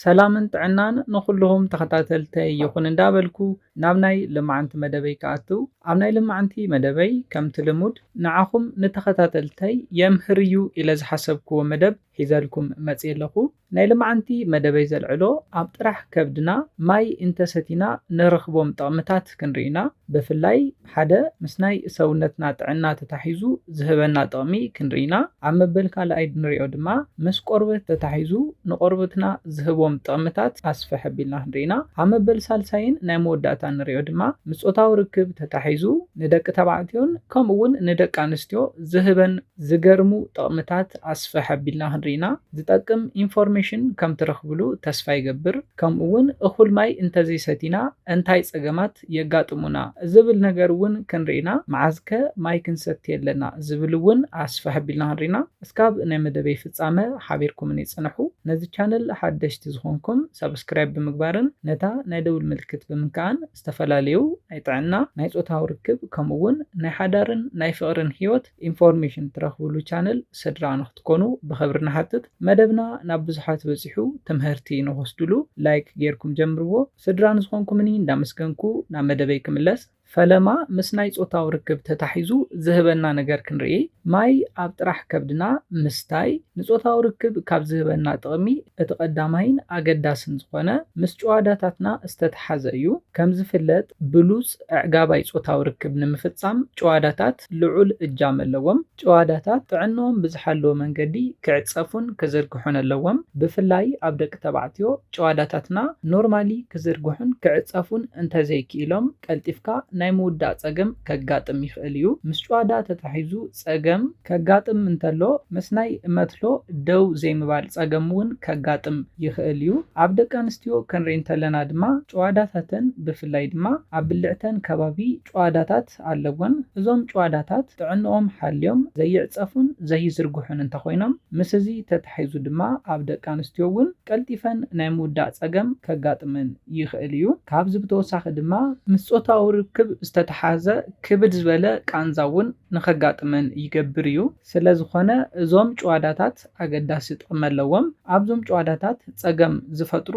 ሰላምን ጥዕናን ንኹሉኹም ተኸታተልተይ ይኹን እንዳበልኩ ናብ ናይ ልማዕንቲ መደበይ ክኣትው ኣብ ናይ ልማዕንቲ መደበይ ከምቲ ልሙድ ንዓኹም ንተኸታተልተይ የምህር እዩ ኢለ ዝሓሰብክዎ መደብ ሒዘልኩም መጽየ ኣለኹ ናይ ልማዕንቲ መደበይ ዘልዕሎ ኣብ ጥራሕ ከብድና ማይ እንተሰቲና ንረኽቦም ጥቕምታት ክንሪኢና ብፍላይ ሓደ ምስ ናይ ሰውነትና ጥዕና ተታሒዙ ዝህበና ጥቕሚ ክንርኢ ኢና። ኣብ መበል ካልኣይ ድንሪኦ ድማ ምስ ቆርበት ተታሒዙ ንቆርበትና ዝህቦም ጥቕምታት ኣስፍሕ ኣቢልና ክንርኢ ኢና። ኣብ መበል ሳልሳይን ናይ መወዳእታ እንሪኦ ድማ ምስ ፆታዊ ርክብ ተታሒዙ ንደቂ ተባዕትዮን ከምኡ ውን ንደቂ ኣንስትዮ ዝህበን ዝገርሙ ጥቕምታት ኣስፍሕ ኣቢልና ክንርኢ ኢና። ዝጠቅም ኢንፎርሜሽን ከም ትረኽብሉ ተስፋ ይገብር። ከምኡ ውን እኹል ማይ እንተዘይሰቲና እንታይ ፀገማት ጸገማት የጋጥሙና ዝብል ነገር እውን ክንርኢ ኢና፣ መዓዝከ ማይ ክንሰቲ ኣለና ዝብል እውን ኣስፍሕ ኣቢልና ክንርኢ ኢና። እስካብ ናይ መደበይ ፍጻመ ሓቢርኩምኒ ጽንሑ። ነዚ ቻነል ሓደሽቲ ዝኾንኩም ሳብስክራይብ ብምግባርን ነታ ናይ ደውል ምልክት ብምንካእን ዝተፈላለዩ ናይ ጥዕና፣ ናይ ጾታዊ ርክብ ከምኡ እውን ናይ ሓዳርን ናይ ፍቕርን ህይወት፣ ኢንፎርሜሽን ትረኽብሉ ቻነል ስድራ ንክትኮኑ ብኽብሪ ንሓትት መደብና ናብ ብዙሓት በጺሑ ትምህርቲ ንክወስድሉ ላይክ ጌርኩም ጀምርዎ ስድራ ንዝኾንኩምኒ እንዳመስገንኩ ናብ መደበይ ክምለስ ፈለማ ምስ ናይ ጾታዊ ርክብ ተታሒዙ ዝህበና ነገር ክንርኢ ማይ ኣብ ጥራሕ ከብድና ምስታይ ንጾታዊ ርክብ ካብ ዝህበና ጥቕሚ እቲ ቀዳማይን ኣገዳስን ዝኾነ ምስ ጭዋዳታትና ዝተተሓዘ እዩ ከምዝፍለጥ ብሉጽ ኣዕጋባይ ጾታዊ ርክብ ንምፍጻም ጭዋዳታት ልዑል እጃም ኣለዎም። ጭዋዳታት ጥዕንኦም ብዝሓለወ መንገዲ ክዕጸፉን ክዝርግሑን ኣለዎም። ብፍላይ ኣብ ደቂ ተባዕትዮ፣ ጭዋዳታትና ኖርማሊ ክዝርግሑን ክዕጸፉን እንተዘይክኢሎም ቀልጢፍካ ናይ ምውዳእ ጸገም ከጋጥም ይኽእል እዩ። ምስ ጭዋዳ ተታሒዙ፣ ጸገም ከጋጥም እንተሎ ምስ ናይ መትሎ ደው ዘይምባል ጸገም እውን ከጋጥም ይኽእል እዩ። ኣብ ደቂ ኣንስትዮ ክንርኢ እንተለና ድማ ጭዋዳታተን ብፍላይ ድማ ኣብ ብልዕተን ከባቢ ጭዋዳታት ኣለወን። እዞም ጭዋዳታት ጥዕንኦም ሓልዮም ዘይዕጸፉን ዘይዝርግሑን እንተኾይኖም ምስ እዚ ተታሒዙ ድማ ኣብ ደቂ ኣንስትዮ እውን ቀልጢፈን ናይ ምውዳእ ጸገም ከጋጥመን ይኽእል እዩ። ካብዚ ብተወሳኺ ድማ ምስ ጾታዊ ርክብ ዝተታሓዘ ክብድ ዝበለ ቃንዛ እውን ንኸጋጥመን ይገብር እዩ። ስለዝኾነ እዞም ጭዋዳታት ኣገዳሲ ጥቕሚ ኣለዎም። ኣብዞም ጭዋዳታት ፀገም ዝፈጥሩ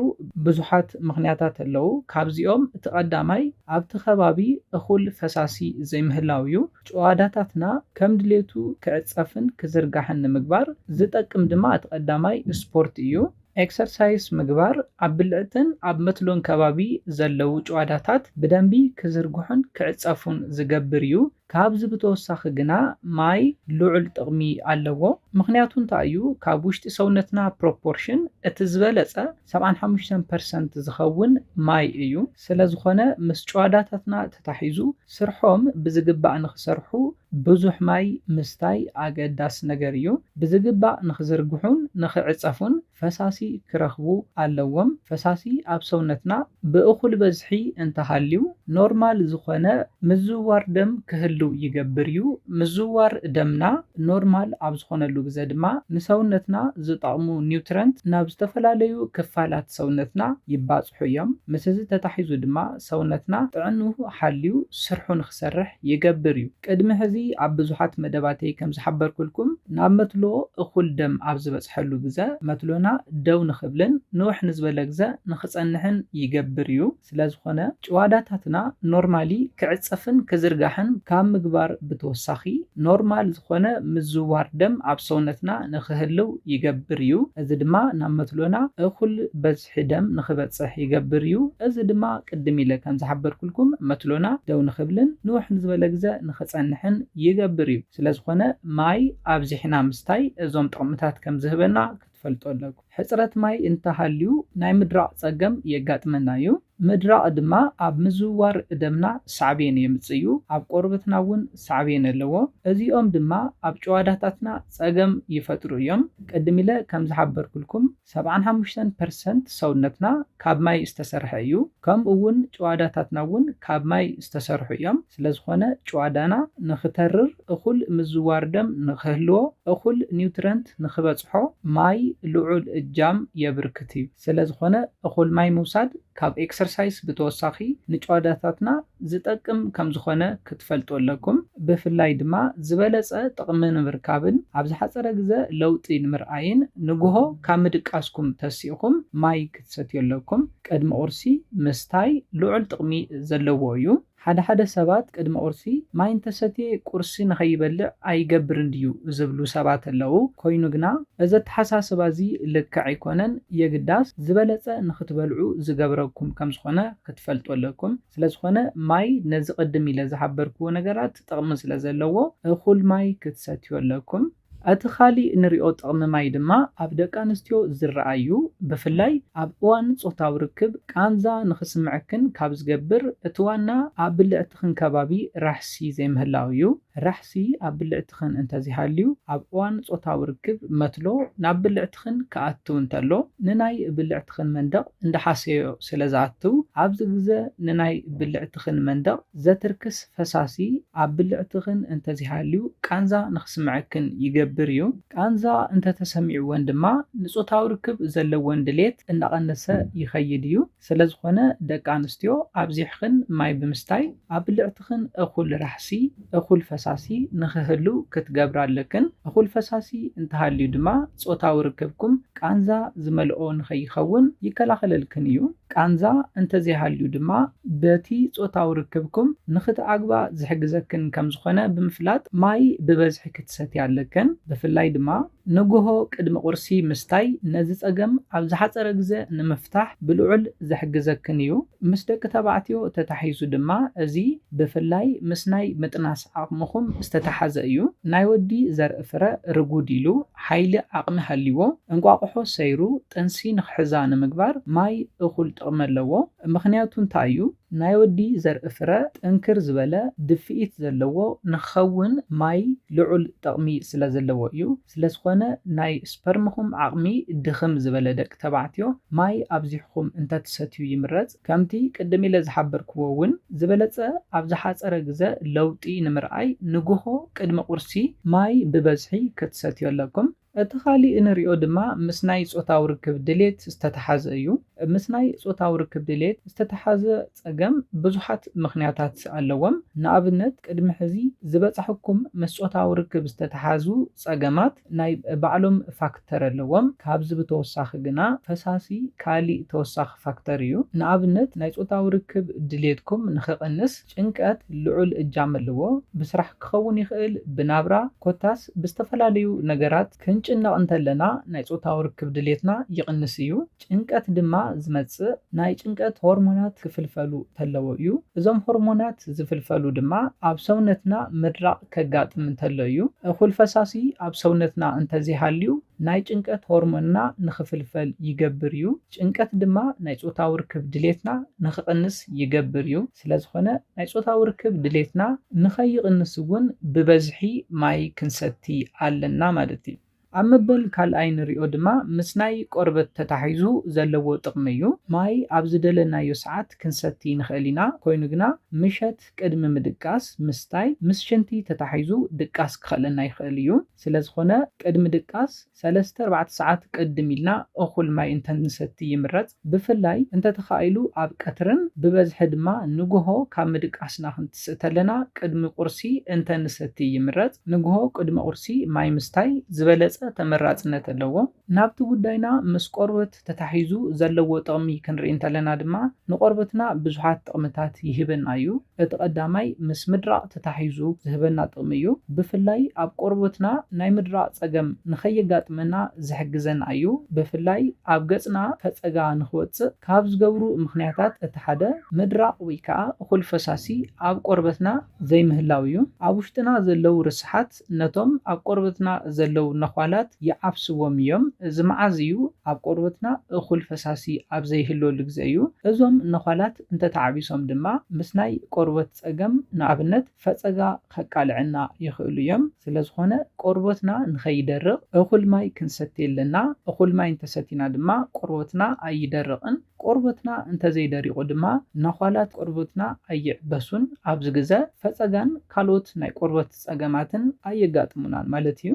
ብዙሓት ምኽንያታት ኣለው። ካብዚኦም እቲ ቀዳማይ ኣብቲ ከባቢ እኹል ፈሳሲ ዘይምህላው እዩ። ጭዋዳታትና ከም ድሌቱ ክዕፀፍን ክዝርጋሕን ንምግባር ዝጠቅም ድማ እቲ ቀዳማይ ስፖርት እዩ። ኤክሰርሳይስ ምግባር ኣብ ብልዕትን ኣብ መትሎን ከባቢ ዘለዉ ጭዋዳታት ብደንቢ ክዝርግሑን ክዕጸፉን ዝገብር እዩ። ካብዚ ብተወሳኺ ግና ማይ ልዑል ጥቕሚ ኣለዎ። ምኽንያቱ እንታይ እዩ? ካብ ውሽጢ ሰውነትና ፕሮፖርሽን እቲ ዝበለጸ ሰብዓን ሓሙሽተን ፐርሰንት ዝኸውን ማይ እዩ። ስለዝኾነ ምስ ጭዋዳታትና ተታሒዙ ስርሖም ብዝግባእ ንኽሰርሑ ብዙሕ ማይ ምስታይ ኣገዳሲ ነገር እዩ። ብዝግባእ ንኽዝርግሑን ንኽዕጸፉን ፈሳሲ ክረኽቡ ኣለዎም። ፈሳሲ ኣብ ሰውነትና ብእኹል በዝሒ እንተሃልዩ ኖርማል ዝኾነ ምዝውዋር ደም ክህሉ ይገብር እዩ። ምዝውዋር ደምና ኖርማል ኣብ ዝኾነሉ ግዘ ድማ ንሰውነትና ዝጠቕሙ ኒውትረንት ናብ ዝተፈላለዩ ክፋላት ሰውነትና ይባፅሑ እዮም። ምስዚ ተታሒዙ ድማ ሰውነትና ጥዕንኡ ሓልዩ ስርሑ ክሰርሕ ይገብር እዩ። ቅድሚ ሕዚ ኣብ ብዙሓት መደባተይ ከም ዝሓበርኩልኩም ናብ መትሎ እኹል ደም ኣብ ዝበጽሐሉ ግዘ መትሎና ደው ንኽብልን ንውሕ ንዝበለ ግዘ ንኽጸንሕን ይገብር እዩ። ስለ ዝኾነ ጭዋዳታትና ኖርማሊ ክዕጸፍን ክዝርጋሕን ካብ ምግባር ብተወሳኺ ኖርማል ዝኾነ ምዝውዋር ደም ኣብ ሰውነትና ንኽህልው ይገብር እዩ። እዚ ድማ ናብ መትሎና እኹል ብዝሒ ደም ንኽበጽሕ ይገብር እዩ። እዚ ድማ ቅድም ኢለ ከም ዝሓበርኩልኩም መትሎና ደው ንኽብልን ንውሕ ንዝበለ ግዘ ንኽጸንሕን ይገብር እዩ። ስለዝኾነ ማይ ኣብዚሕና ምስታይ እዞም ጥቕምታት ከም ዝህበና ክትፈልጡ ኣለኩም። ሕጽረት ማይ እንተሃልዩ ናይ ምድራቕ ጸገም የጋጥመና እዩ። ምድራቕ ድማ ኣብ ምዝውዋር ደምና ሳዕቤን የምጽእ እዩ። ኣብ ቆርበትና እውን ሳዕቤን ኣለዎ። እዚኦም ድማ ኣብ ጭዋዳታትና ጸገም ይፈጥሩ እዮም። ቅድም ኢለ ከም ዝሓበርኩልኩም ሰብዓን ሓሙሽተን ፐርሰንት ሰውነትና ካብ ማይ ዝተሰርሐ እዩ ከምኡ ውን ጭዋዳታትና ውን ካብ ማይ ዝተሰርሑ እዮም ስለዝኾነ ጭዋዳና ንኽተርር እኹል ምዝዋር ደም ንኽህልዎ እኹል ኒውትረንት ንኽበፅሖ ማይ ልዑል እጃም የብርክት እዩ ስለዝኾነ እኹል ማይ ምውሳድ ካብ ኤክሰርሳይስ ብተወሳኺ ንጭዋዳታትና ዝጠቅም ከምዝኾነ ክትፈልጡ ኣለኩም። ብፍላይ ድማ ዝበለፀ ጥቕሚ ንምርካብን ኣብ ዝሓፀረ ግዘ ለውጢ ንምርኣይን ንጉሆ ካብ ምድቃስኩም ተሲእኹም ማይ ክትሰትዩ ኣለኩም። ቅድሚ ቁርሲ ምስታይ ልዑል ጥቕሚ ዘለዎ እዩ። ሓደ ሓደ ሰባት ቅድሚ ቁርሲ ማይ እንተሰትየ ቁርሲ ንኸይበልዕ ኣይገብርን ድዩ ዝብሉ ሰባት ኣለዉ። ኮይኑ ግና እዚ ኣተሓሳስባ እዚ ልክዕ ኣይኮነን። የግዳስ ዝበለጸ ንኽትበልዑ ዝገብረኩም ከም ዝኾነ ክትፈልጡ ኣለኩም። ስለ ዝኾነ ማይ ነዚ ቅድም ኢለ ዝሓበርክዎ ነገራት ጥቕሚ ስለ ዘለዎ እኹል ማይ ክትሰትዩ ኣለኩም። እቲ ካሊእ ንሪኦ ጥቕሚ ማይ ድማ ኣብ ደቂ ኣንስትዮ ዝረኣ እዩ። ብፍላይ ኣብ እዋን ፆታዊ ርክብ ቃንዛ ንኽስምዐክን ካብ ዝገብር እቲ ዋና ኣብ ብልዕትኽን ከባቢ ራሕሲ ዘይምህላው እዩ። ራሕሲ ኣብ ብልዕትኽን እንተዘይሃልዩ ኣብ እዋን ፆታዊ ርክብ መትሎ ናብ ብልዕትኽን ብልዕትኽን ክኣትው እንተሎ ንናይ ብልዕትኽን መንደቕ እንዳሓሰዮ ስለ ዝኣትው ኣብዚ ግዘ ንናይ ብልዕትኽን መንደቕ ዘትርክስ ፈሳሲ ኣብ ብልዕትኽን እንተዘይሃልዩ ቃንዛ ንክስመዐክን ይገብር እዩ። ቃንዛ እንተተሰሚዕወን ድማ ንፆታዊ ርክብ ዘለወን ድሌት እንዳቐነሰ ይኸይድ እዩ። ስለዝኾነ ደቂ ኣንስትዮ ኣብዚሕኽን ማይ ብምስታይ ኣብ ብልዕትኽን እኹል ራሕሲ፣ እኹል ፈሳሲ፣ ንኽህሉ ክትገብራ ኣለክን። እኹል ፈሳሲ እንተሃልዩ ድማ ጾታዊ ርክብኩም ቃንዛ ዝመልኦ ንኸይኸውን ይከላኸለልክን እዩ። ቃንዛ እንተዘይሃልዩ ድማ በቲ ጾታዊ ርክብኩም ንኽትዓግባ ዝሕግዘክን ከምዝኾነ ብምፍላጥ ማይ ብበዝሒ ክትሰትያ ኣለክን። ብፍላይ ድማ ንጉሆ ቅድሚ ቁርሲ ምስታይ ነዚ ጸገም ኣብ ዝሓጸረ ግዘ ንምፍታሕ ብልዑል ዝሕግዘክን እዩ። ምስ ደቂ ተባዕትዮ ተታሒዙ ድማ እዚ ብፍላይ ምስ ናይ ምጥናስ ዓቕምኹም ዝተታሓዘ እዩ። ናይ ወዲ ዘርኢ ፍረ ርጉድ ኢሉ ሓይሊ ዓቕሚ ሃልይዎ እንቋቑሖ ሰይሩ ጥንሲ ንኽሕዛ ንምግባር ማይ እኹል ጥቕሚ ኣለዎ። ምኽንያቱ እንታይ እዩ? ናይ ወዲ ዘርኢ ፍረ ጥንክር ዝበለ ድፍኢት ዘለዎ ንክኸውን ማይ ልዑል ጠቕሚ ስለዘለዎ እዩ። ስለዝኾነ ናይ ስፐርምኹም ዓቕሚ ድኽም ዝበለ ደቂ ተባዕትዮ ማይ ኣብዚሕኹም እንተትሰትዩ ይምረጽ። ከምቲ ቅድም ኢለ ዝሓበርክዎ እውን ዝበለጸ ኣብ ዝሓጸረ ግዘ ለውጢ ንምርኣይ ንጉሆ ቅድሚ ቁርሲ ማይ ብበዝሒ ክትሰትዩ ኣለኩም። እቲ ኻሊእ እንሪኦ ድማ ምስ ናይ ፆታዊ ርክብ ድሌት ዝተተሓዘ እዩ። ምስ ናይ ፆታዊ ርክብ ድሌት ዝተተሓዘ ፀገም ብዙሓት ምኽንያታት ኣለዎም። ንኣብነት ቅድሚ ሕዚ ዝበፃሕኩም ምስ ፆታዊ ርክብ ዝተተሓዙ ፀገማት ናይ ባዕሎም ፋክተር ኣለዎም። ካብዚ ብተወሳኺ ግና ፈሳሲ ካሊእ ተወሳኺ ፋክተር እዩ። ንኣብነት ናይ ፆታዊ ርክብ ድሌትኩም ንኽቕንስ ጭንቀት ልዑል እጃም ኣለዎ፣ ብስራሕ ክኸውን ይኽእል፣ ብናብራ፣ ኮታስ ብዝተፈላለዩ ነገራት ክንጭነቕ እንተለና ናይ ጾታዊ ርክብ ድሌትና ይቕንስ እዩ። ጭንቀት ድማ ዝመጽእ ናይ ጭንቀት ሆርሞናት ክፍልፈሉ ተለዎ እዩ። እዞም ሆርሞናት ዝፍልፈሉ ድማ ኣብ ሰውነትና ምድራቕ ከጋጥም እንተሎ እዩ። እኹል ፈሳሲ ኣብ ሰውነትና እንተዘይሃልዩ ናይ ጭንቀት ሆርሞንና ንኽፍልፈል ይገብር እዩ። ጭንቀት ድማ ናይ ጾታዊ ርክብ ድሌትና ንኽቕንስ ይገብር እዩ፣ ስለዝኾነ ናይ ጾታዊ ርክብ ድሌትና ንኸይቕንስ እውን ብበዝሒ ማይ ክንሰቲ ኣለና ማለት እዩ። ኣብ መበል ካልኣይ ንሪኦ ድማ ምስ ናይ ቆርበት ተታሒዙ ዘለዎ ጥቕሚ እዩ። ማይ ኣብ ዝደለናዮ ሰዓት ክንሰቲ ንኽእል ኢና፣ ኮይኑ ግና ምሸት ቅድሚ ምድቃስ ምስታይ ምስ ሽንቲ ተታሒዙ ድቃስ ክኸእለና ይኽእል እዩ፣ ስለዝኾነ ቅድሚ ድቃስ፣ ሰለስተ ኣርባዕተ ሰዓት ቅድም ኢልና እኹል ማይ እንተንሰቲ ይምረጽ፣ ብፍላይ እንተተኻኢሉ ኣብ ቀትርን ብበዝሒ ድማ ንጉሆ ካብ ምድቃስና ክንትስእ ተለና ቅድሚ ቁርሲ እንተንሰቲ ይምረጽ፣ ንጉሆ ቅድሚ ቁርሲ ማይ ምስታይ ዝበለጸ ተመራጽነት ኣለዎ። ናብቲ ጉዳይና ምስ ቆርብ። ተታሒዙ ዘለዎ ጥቕሚ ክንርኢ እንተለና ድማ ንቆርበትና ብዙሓት ጥቕምታት ይህበና እዩ። እቲ ቀዳማይ ምስ ምድራቕ ተታሒዙ ዝህበና ጥቕሚ እዩ። ብፍላይ ኣብ ቆርበትና ናይ ምድራቕ ፀገም ንከየጋጥመና ዝሕግዘና እዩ። ብፍላይ ኣብ ገፅና ፈፀጋ ንክወፅእ ካብ ዝገብሩ ምኽንያታት እቲ ሓደ ምድራቕ ወይ ከዓ እኹል ፈሳሲ ኣብ ቆርበትና ዘይምህላው እዩ። ኣብ ውሽጥና ዘለው ርስሓት ሰባት ነቶም ኣብ ቆርበትና ዘለዉ ነዃላት ይዓፍስዎም እዮም። እዚ መዓዝ እዩ? ኣብ ቆርበትና እኹል ፈሳሲ ኣብ ዘይህልወሉ ግዜ እዩ። እዞም ነዃላት እንተ ተዓቢሶም ድማ ምስ ናይ ቆርበት ጸገም፣ ንኣብነት ፈጸጋ፣ ከቃልዐና ይኽእሉ እዮም። ስለዝኾነ ቆርበትና ንኸይደርቕ እኹል ማይ ክንሰቲ ኣለና። እኹል ማይ እንተ ሰቲና ድማ ቆርበትና ኣይደርቕን። ቆርበትና እንተዘይደሪቑ ድማ ነዃላት ቆርበትና ኣይዕበሱን፣ ኣብዚ ግዘ ፈፀጋን ካልኦት ናይ ቆርበት ፀገማትን ኣየጋጥሙናን ማለት እዩ።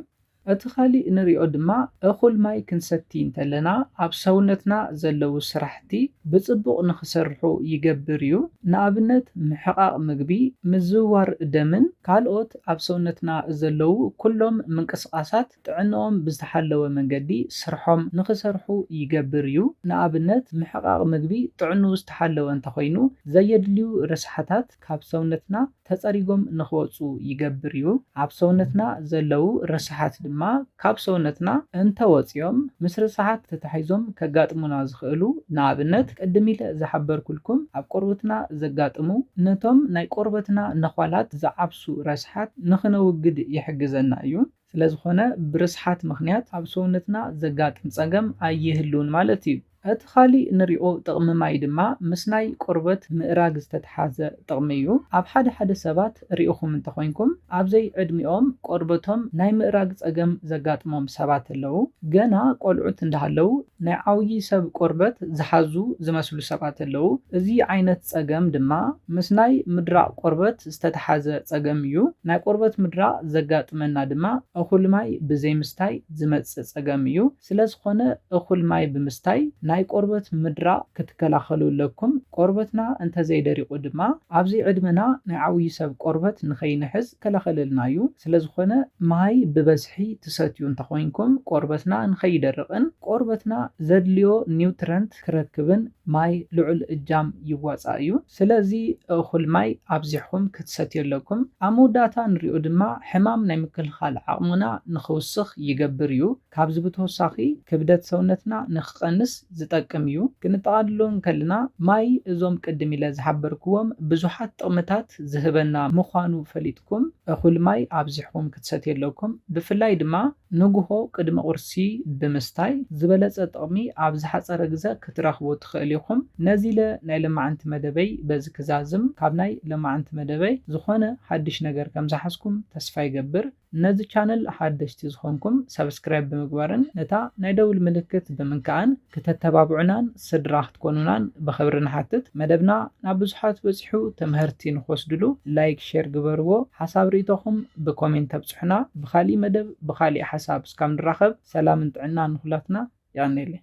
እቲ ካሊእ ንሪኦ ድማ እኹል ማይ ክንሰቲ እንተለና ኣብ ሰውነትና ዘለዉ ስራሕቲ ብፅቡቕ ንክሰርሑ ይገብር እዩ። ንኣብነት ምሕቓቕ ምግቢ፣ ምዝውዋር ደምን ካልኦት ኣብ ሰውነትና ዘለዉ ኩሎም ምንቅስቓሳት ጥዕንኦም ብዝተሓለወ መንገዲ ስርሖም ንኽሰርሑ ይገብር እዩ። ንኣብነት ምሕቓቕ ምግቢ ጥዕንኡ ዝተሓለወ እንተኾይኑ ዘየድልዩ ረስሓታት ካብ ሰውነትና ተጸሪጎም ንኽወጹ ይገብር እዩ። ኣብ ሰውነትና ዘለዉ ረስሓት ድማ ካብ ሰውነትና እንተወጺኦም ምስ ርስሓት ተታሒዞም ከጋጥሙና ዝኽእሉ ንኣብነት ቅድም ኢለ ዝሓበርኩልኩም ኣብ ቆርብትና ዘጋጥሙ ነቶም ናይ ቆርበትና ነዃላት ዝዓብሱ ረስሓት ንኽነውግድ ይሕግዘና እዩ። ስለዝኾነ ብርስሓት ምኽንያት ኣብ ሰውነትና ዘጋጥም ጸገም ኣይህሉን ማለት እዩ። እቲ ካሊእ ንሪኦ ጥቕሚ ማይ ድማ ምስ ናይ ቆርበት ምእራግ ዝተትሓዘ ጥቕሚ እዩ። ኣብ ሓደ ሓደ ሰባት ሪእኹም እንተኾይንኩም ኣብዘይ ዕድሚኦም ቆርበቶም ናይ ምእራግ ጸገም ዘጋጥሞም ሰባት ኣለዉ። ገና ቆልዑት እንዳሃለዉ ናይ ዓውዪ ሰብ ቆርበት ዝሓዙ ዝመስሉ ሰባት ኣለዉ። እዚ ዓይነት ጸገም ድማ ምስ ናይ ምድራቕ ቆርበት ዝተተሓዘ ጸገም እዩ። ናይ ቆርበት ምድራቕ ዘጋጥመና ድማ እኹል ማይ ብዘይምስታይ ዝመጽእ ጸገም እዩ። ስለዝኾነ እኹል ማይ ብምስታይ ናይ ቆርበት ምድራቕ ክትከላኸሉ ኣለኩም። ቆርበትና እንተዘይደሪቑ ድማ ኣብዚ ዕድመና ናይ ዓውዪ ሰብ ቆርበት ንኸይንሕዝ ዝከላኸለልና እዩ። ስለዝኾነ ማይ ብበዝሒ ትሰትዩ እንተኾይንኩም ቆርበትና ንከይደርቕን ቆርበትና ዘድልዮ ኒውትረንት ክረክብን ማይ ልዑል እጃም ይዋፃእ እዩ። ስለዚ እኹል ማይ ኣብዚሕኹም ክትሰትዩ ኣለኩም። ኣብ መወዳእታ ንሪኦ ድማ ሕማም ናይ ምክልኻል ዓቕምና ንክውስኽ ይገብር እዩ። ካብዚ ብተወሳኺ ክብደት ሰውነትና ንክቐንስ ዝጠቅም እዩ። ክንጠቓልሎ እንከልና ማይ እዞም ቅድም ኢለ ዝሓበርክዎም ብዙሓት ጥቕምታት ዝህበና ምዃኑ ፈሊጥኩም እኹል ማይ ኣብዚሕኹም ክትሰትዩ ኣለኩም። ብፍላይ ድማ ንጉሆ ቅድሚ ቁርሲ ብምስታይ ዝበለጸ ጥቕሚ ኣብ ዝሓጸረ ግዘ ክትረኽቡ ትኽእሉ ኢኹም። ነዚለ ናይ ለማዓንቲ መደበይ በዚ ክዛዝም። ካብ ናይ ለማዓንቲ መደበይ ዝኾነ ሓድሽ ነገር ከምዝሓዝኩም ተስፋ ይገብር። ነዚ ቻነል ሓደሽቲ ዝኾንኩም ሳብስክራይብ ብምግባርን ነታ ናይ ደውል ምልክት ብምንካእን ክተተባብዑናን ስድራ ክትኮኑናን ብኽብሪ ንሓትት። መደብና ናብ ብዙሓት በጺሑ ተመሀርቲ ንኽወስድሉ ላይክ ሼር ግበርዎ ሓሳብ ርኢቶኹም ብኮሜንት ኣብጽሑና ብኻሊእ መደብ ብኻሊእ ሓሳብ እስካብ ንራኸብ ሰላምን ጥዕናን ንኹላትና የቐኔለይ።